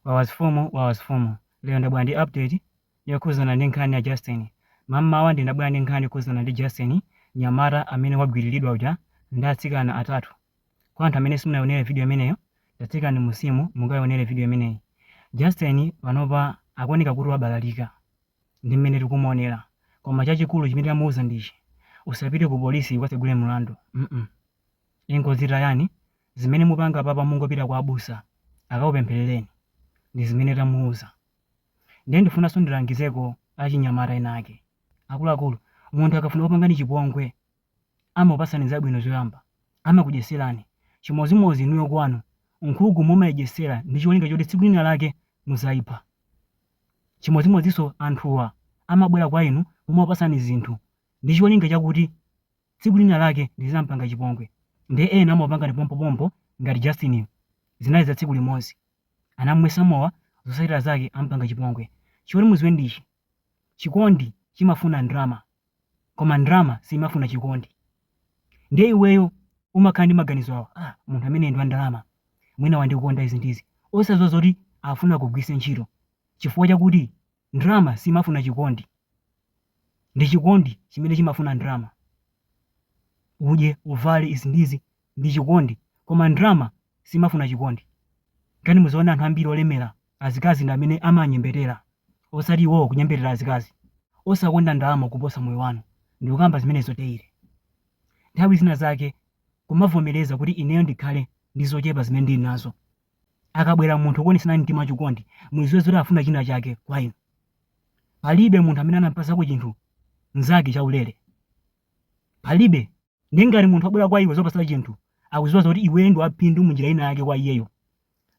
Wawa mfumu wawa mfumu lero ndabwera ndi update yokhuzana ndi nkhani ya Justin. Mammawa ndinabwera ndi nkhani yokhuzana ndi Justin mnyamata amene wagwililidwa uja ndi atsikana atatu. Kwa anthu amene simunaionere video imeneyo tatsikani mmunsimu mukaionere video imeneyi. Justin panopa akuoneka kuti wabalalika ndi mmene tikumuonera koma chachikulu chimene tamuuza ndichi usapite ku polisi ukatsegule mlandu mm ingozitayani zimene mupanga apapa mungopita kwa abusa akakupempherereni ndizimene tamuuza ndiye ndifunanso ndilangizeko achinyamata ena ake akuluakulu munthu akafuna kupangani chipongwe amakupasani zabwino zoyamba amakudyetserani chimozimozi inuyo kwanu nkhuku mumaidyetsera ndi cholinga choti tsiku lina lake muzaipha chimozimoziso anthuwa amabwera kwa inu kumakupasani zinthu ndi cholinga chakuti tsiku lina lake ndizampanga chipongwe nde ena amakupangani pompopompo ngati Justin yu zinali za tsiku limodzi anamumwesa mowa zosatira zake amupanga chipongwe choti muziwe ndichi chikondi chimafuna ndrama koma ndrama siimafuna chikondi ndiye iweyo umakhala ndi maganizo awa ah, munthu ameneyu ndi wa ndalama mwina wandikonda izi ndizi osaziwa zoti afuna akugwilise ntchito chifukwa chakuti Ndalama siimafuna chikondi, ndi chikondi chimene chimafuna ndalama. Udye, uvale, izi ndi izi ndi chikondi, koma ndalama siimafuna chikondi. Kaya muzaone anthu ambiri olemera, azikazi ndi amene amanyembetera, osati iwowo kunyembetera azikazi. Osakonda ndalama kuposa moyo wanu. Ndikukamba zimenezo daily. Nthawi zina zake kumavomereza kuti ineyo ndikhale ndi zochepa zimene ndili nazo akabwera munthu kukuonetserani mtima wachikondi, muziwe zoti afuna china chake kwa inu. Palibe munthu amene anampasako chinthu mnzake chaulere. Palibe. Ndiye ngati munthu wabwera kwa iwe kuzakupasa chinthu, akuziwa zoti iweyo ndi waphindu munjira ina yake kwa iyeyo.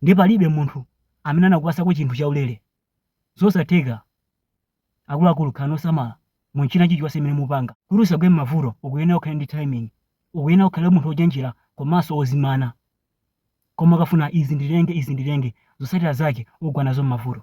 Ndiye palibe munthu amene anakupasako chinthu chaulere. Zosatheka. Akuluakulu khalani osamala mu china chilichonse chimene mupanga. Kuti usagwe m'mavuto ukuyenera ukhale ndi timing. Ukuyenera ukhale munthu wochenjera komanso wozimana. Koma ukafuna izi ndilenge izi ndilenge zosatira zake ugwa nazo mmavuto.